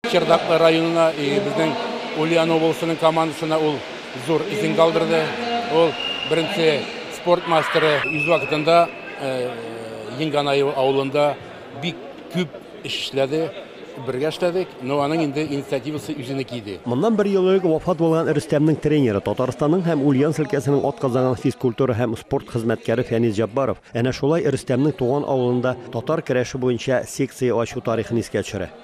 Чердаклы районына безнең Ульян обласының командасына ул зур исем калдырды. Ул беренче спорт мастеры үз вакытында Енганаево авылында бик күп эш эшләде. Бергә эшләдек, но аның инде инициативасы үзенеке иде. Моннан бер ел элек вафат булган Рөстәмнең тренеры, Татарстанның һәм Ульяновск өлкәсенең атказанган физкультура һәм спорт хезмәткәре Фәнис Җаббаров әнә шулай Рөстәмнең туган авылында татар көрәше буенча секция ачу тарихын искә төшерә.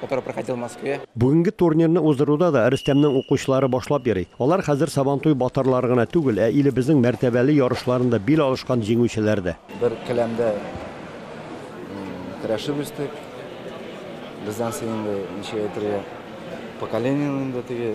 который проходил в Москве. Бүгенге турнирны уздыруда да Рөстәмнең укучылары башлап йөри. Алар хәзер Сабантуй батырлары гына түгел, ә илебезнең мәртәбәле ярышларында бил алышкан җиңүчеләр дә. Бер келәмдә көрәшеп үстек. Бездән соң инде, ничек әйтергә, поколениеның инде теге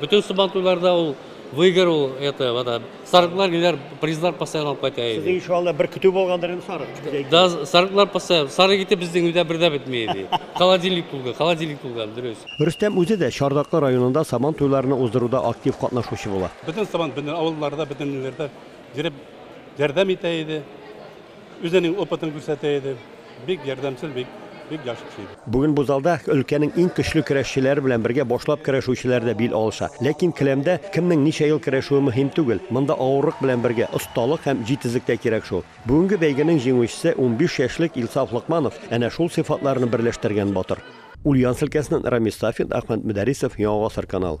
Бөтен сабантуйларда ул выигрывал это, вот, сарыклар киләр, призлар постоянно алып кайта иде. Сезнең иншалла бер көтү булгандыр инде сарык. Да, сарыклар постоянно, сарык ите безнең өйдә бер дә бетми иде. Холодильник тулган, холодильник тулган, дөрес. Рөстәм үзе дә Чардаклы районында Сабан туйларны уздыруда актив катнашучы була. Бөтен сабан, бөтен авылларда, бөтен ниләрдә йөреп ярдәм итә иде. Үзенең опытын күрсәтә иде. Бик ярдәмчел, бик, бик яхшы кеше иде. Бүген бу залда өлкәнең иң көчле көрәшчеләре белән бергә башлап көрәшүчеләр дә бил алыша. Ләкин келәмдә кемнең ничә ел көрәшүе мөһим түгел. Монда авырлык белән бергә осталык һәм җитезлек тә кирәк шул. Бүгенге бәйгенең җиңүчесе, унбиш яшьлек Илсаф Локманов, әнә шул сыйфатларны берләштергән батыр. Ульяновск өлкәсеннән Рамис Сафин, Ахмәт Мөдәрисов, Яңа Гасыр канал.